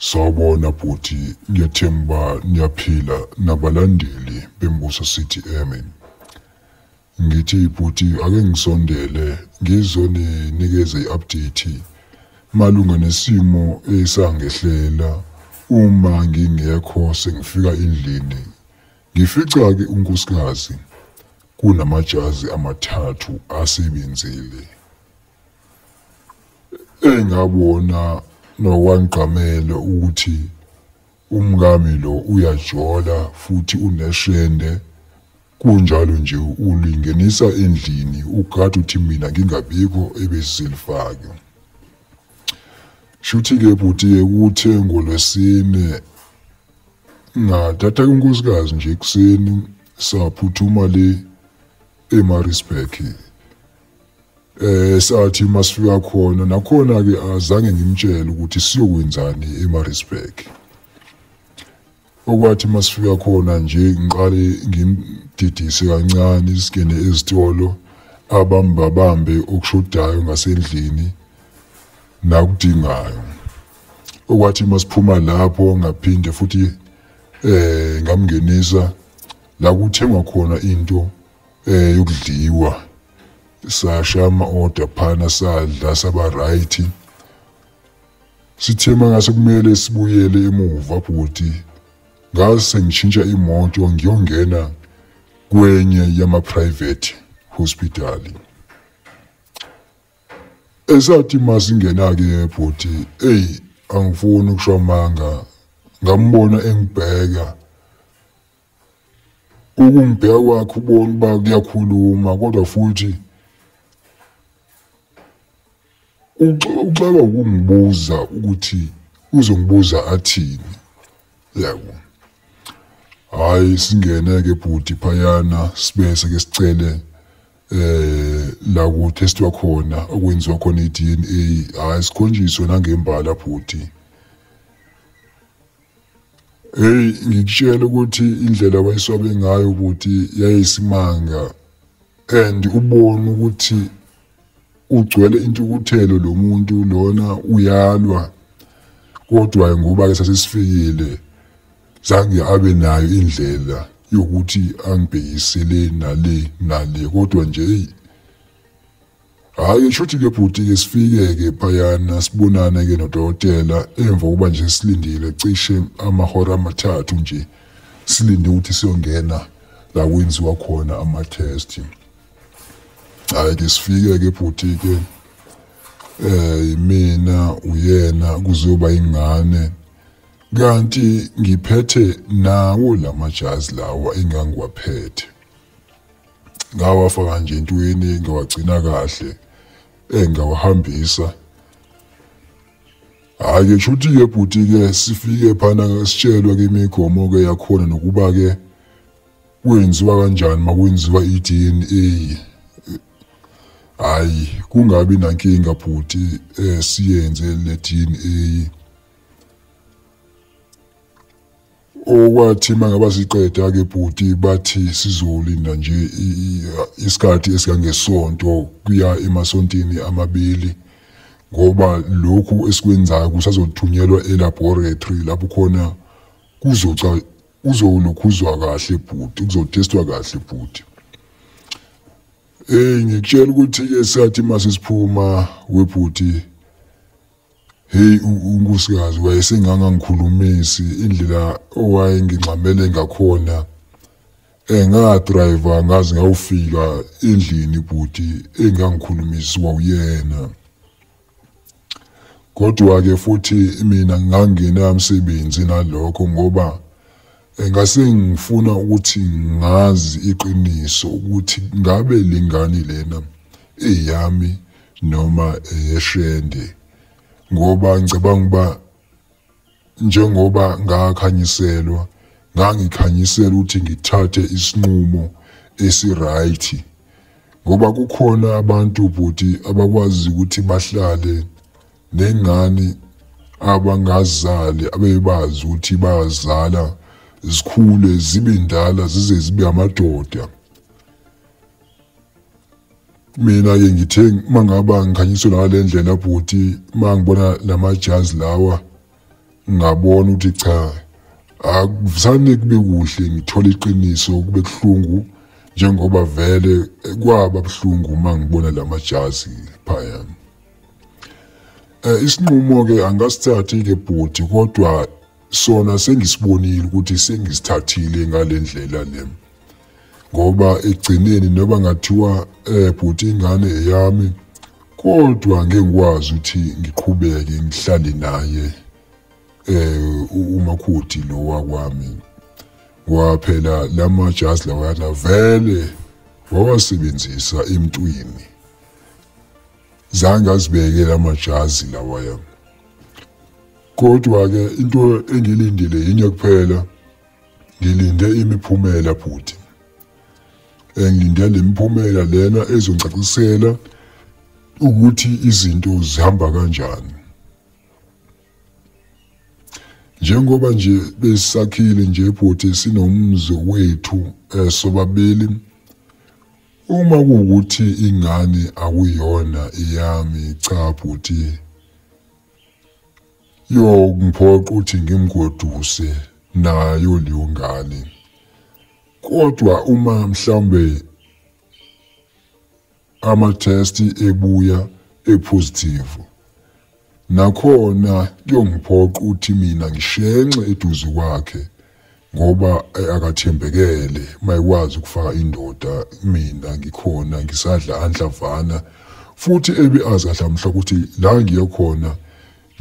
Sawubona bhuti, ngiyathemba niyaphila nabalandeli beMbuso City Eme. Ngithi bhuti ake ngisondele ngizoninikeza i-update malunga nesimo esangehlela uma ngingekho sengifika endlini Ngifica-ke unkosikazi kunamajazi amathathu asebenzile engabona nokwangqamele ukuthi umngami lo uyajola futhi uneshende kunjalo nje ulingenisa endlini ugada uthi mina ngingabikho ebesilifake shuthi-ke bhuti-ke kuthe ngolwesine ngathatha unkosikazi nje ekuseni saphuthuma le emarisburg eh sathi masifika khona nakhona ke azange ngimtshele ukuthi siyokwenzani emarisburg okwathi masifika khona nje ngiqale ngimdidise kancane singene ezitolo abambabambe okushodayo ngasendlini nakudingayo okwathi uma siphuma lapho ngaphinde futhi eh ngamngenisa la kuthengwa khona into eh yokudliwa sasha ama order phana sadla saba right sithe mangase kumele sibuyele emuva bhuti ngase ngishintsha imoto ngiyongena kwenye yama private hospital esathi masingena-ke bhuti eyi angifuni ukusho amanga ngambona engibheka ukungibheka kwakhe ubona uba kuyakhuluma kodwa futhi uxaka ukungibuza ukuthi uzongibuza athini yabo hhayi singene-ke bhuti phayana sibese-ke sicele eh la ku testwa khona okwenziwa khona iDNA hayi sikhonjiswe nangembala bhuti hey ngikutshela ukuthi indlela wayeswabe ngayo bhuti yayisimanga and ubona ukuthi ugcwele intukuthelo lo muntu lona uyalwa kodwa ngoba ke sasesifikile zange abe nayo indlela yokuthi angibhekisele nale nale kodwa nje eyi hhayi shuthi-ke bhuti-ke sifike-ke phayana sibonane-ke nodokotela emva kokuba nje silindile cishe amahora amathathu nje silinde ukuthi siyongena la kwenziwa khona ama-test hhayi-ke sifike-ke bhuti-ke um eh, mina uyena kuzoba ingane Kanti ngiphethe nawo lamajazi lawa engangiwaphethe. Ngawafaka nje entweni ngawagcina kahle engawahambisa. Hayi ke shuthi ke bhuti ke sifike phana ngasitshelwa ke imigomo ke yakhona nokuba ke kwenziwa kanjani makwenziwa iDNA. Hayi kungabi nankinga bhuti eh siyenze le DNA. okwathi mangaba siqeda ke bhuti bathi sizolinda nje isikhathi esikangesonto kuya emasontini amabili ngoba lokhu esikwenzayo kusazothunyelwa elaboratory lapho khona kuzoca uzolokhuzwa kahle bhuti kuzotestwa kahle bhuti eh ngikutshela ukuthi ke sathi masisiphuma webhuti Hey unkosikazi wayesengangangikhulumisi indlela owayengingxamele ngakhona engadriver eh, ngaze ngawufika endlini bhuti engangikhulumisi wawuyena kodwa ke futhi mina ngangena umsebenzi nalokho ngoba Ngase ngifuna ukuthi ngazi iqiniso ukuthi ngabe le ngane lena eyami noma eyeshende ngoba ngicabanga ukuba njengoba ngakhanyiselwa ngangikhanyisela ukuthi ngithathe isinqumo esiright ngoba kukhona abantu bhuti abakwazi ukuthi bahlale nengane abangazali abebazi ukuthi bayazala zikhule zibe ndala zize zibe amadoda mina ke ngithe uma ngaba ngikhanyiswe ngale ndlela bhuti uma ngibona lamajazi lawa ngabona ukuthi cha akuvusane kube kuhle ngithola iqiniso kube kuhlungu njengoba vele kwaba buhlungu uma ngibona lamajazi phayana Eh, isinqumo-ke angasithathi-ke bhuti kodwa sona sengisibonile ukuthi sengisithathile ngale ndlela le ngoba ekugcineni noba ngathiwa um bhuti ingane eyami kodwa ngeke ngikwazi ukuthi ngiqhubeke ngihlale naye um umakhuthi lo wakwami waphela la majazi lawayana vele wawasebenzisa emntwini zange azibeke lamajazi lawaya kodwa ke into engilindile yinye kuphela ngilinde imiphumela bhuti engilinde lemiphumela lena ezongicacisela ukuthi izinto zihamba kanjani njengoba nje besakhile nje bhuti sinomzi wethu eh, sobabili Uma kuwukuthi ingane akuyona eyami cha bhuti yongiphoqa ukuthi ngimgoduse nayo leyo ngane kodwa uma mhlambe ama-test ebuya epositive Nakhona kuyongiphoqa ukuthi mina ngishenxe eduze kwakhe ngoba eh, akathembekele mayikwazi ukufaka indoda mina ngikhona ngisadla anhlavana futhi ebe azi kahle mhla ukuthi la ngiye khona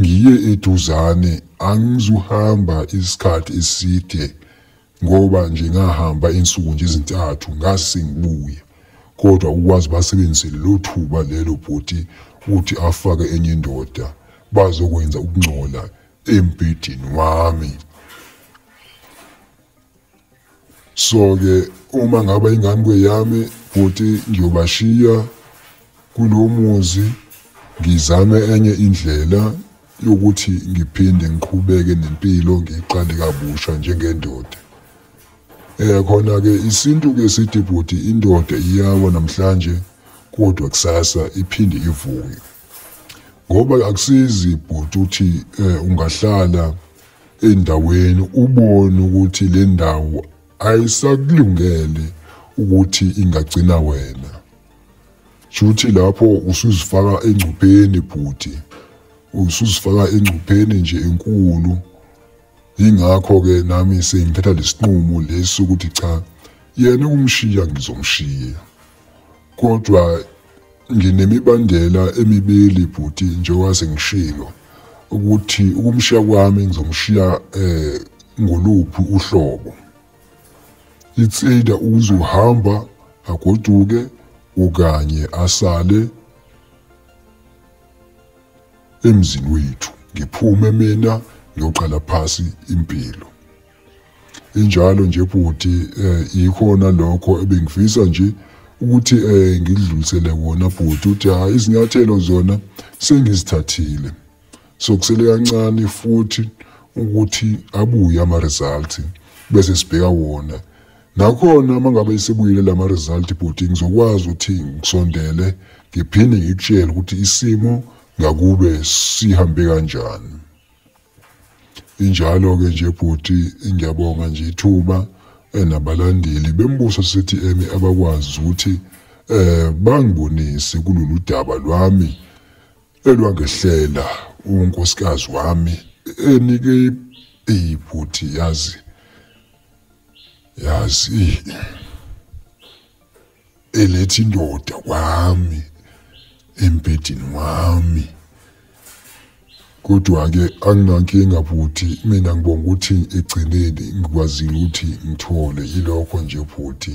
ngiye eduzane angizuhamba isikhathi eside ngoba nje ngahamba insuku nje ezintathu ngazi sengibuya kodwa ukwazi basebenzise lelo thuba lelo bhuti ukuthi afake enye indoda bazokwenza ukungcola embhedeni wami so-ke uma ngaba ingane kweyami bhuti ngiyobashiya kulo muzi ngizame enye indlela yokuthi ngiphinde ngiqhubeke nempilo ngiqale kabusha njengendoda eh khona ke isintu ke sithi bhuti indoda iyawa namhlanje kodwa kusasa iphinde ivuke ngoba akusizi bhuti uthi eh, ungahlala endaweni ubone ukuthi le ndawo ayisakulungele ukuthi ingagcina wena Shuthi lapho usuzifaka engcupheni bhuti. Usuzifaka engcupheni nje enkulu. Ingakho ke nami sengithatha lesinqumo lesi ukuthi cha yena umshiya ngizomshiya. Kodwa nginemibandela emibili bhuti njengoba sengishilo ukuthi ukumshiya kwami ngizomshiya eh ngoluphi uhlobo. it's either uzohamba agoduke okanye asale emzini wethu ngiphume mina ngiyoqala phasi impilo injalo nje bhuti eh ikhona lokho ebengifisa nje ukuthi eh ngidlulisele wona bhuti uthi ha izinyathelo zona sengizithathile sokusele kancane futhi ukuthi abuye ama-result bese sibheka wona nakhona uma ngabe isebuyile lama result bhuti ngizokwazi ukuthi ngisondele ngiphinde ngikutshele ukuthi isimo ngakube sihambe kanjani injalo ke nje bhuti ngiyabonga nje ithuba enabalandeli eh, bembuso sithi emi abakwazi ukuthi eh bangibonise kulolu daba lwami Elwangehlela unkosikazi wami enike ibhuti yazi yazi elethi indoda kwami embedini wami kodwa-ke anginankinga bhuti mina ngibonga ukuthi ekugcineni ngikwazile ukuthi ngithole yilokho nje bhuti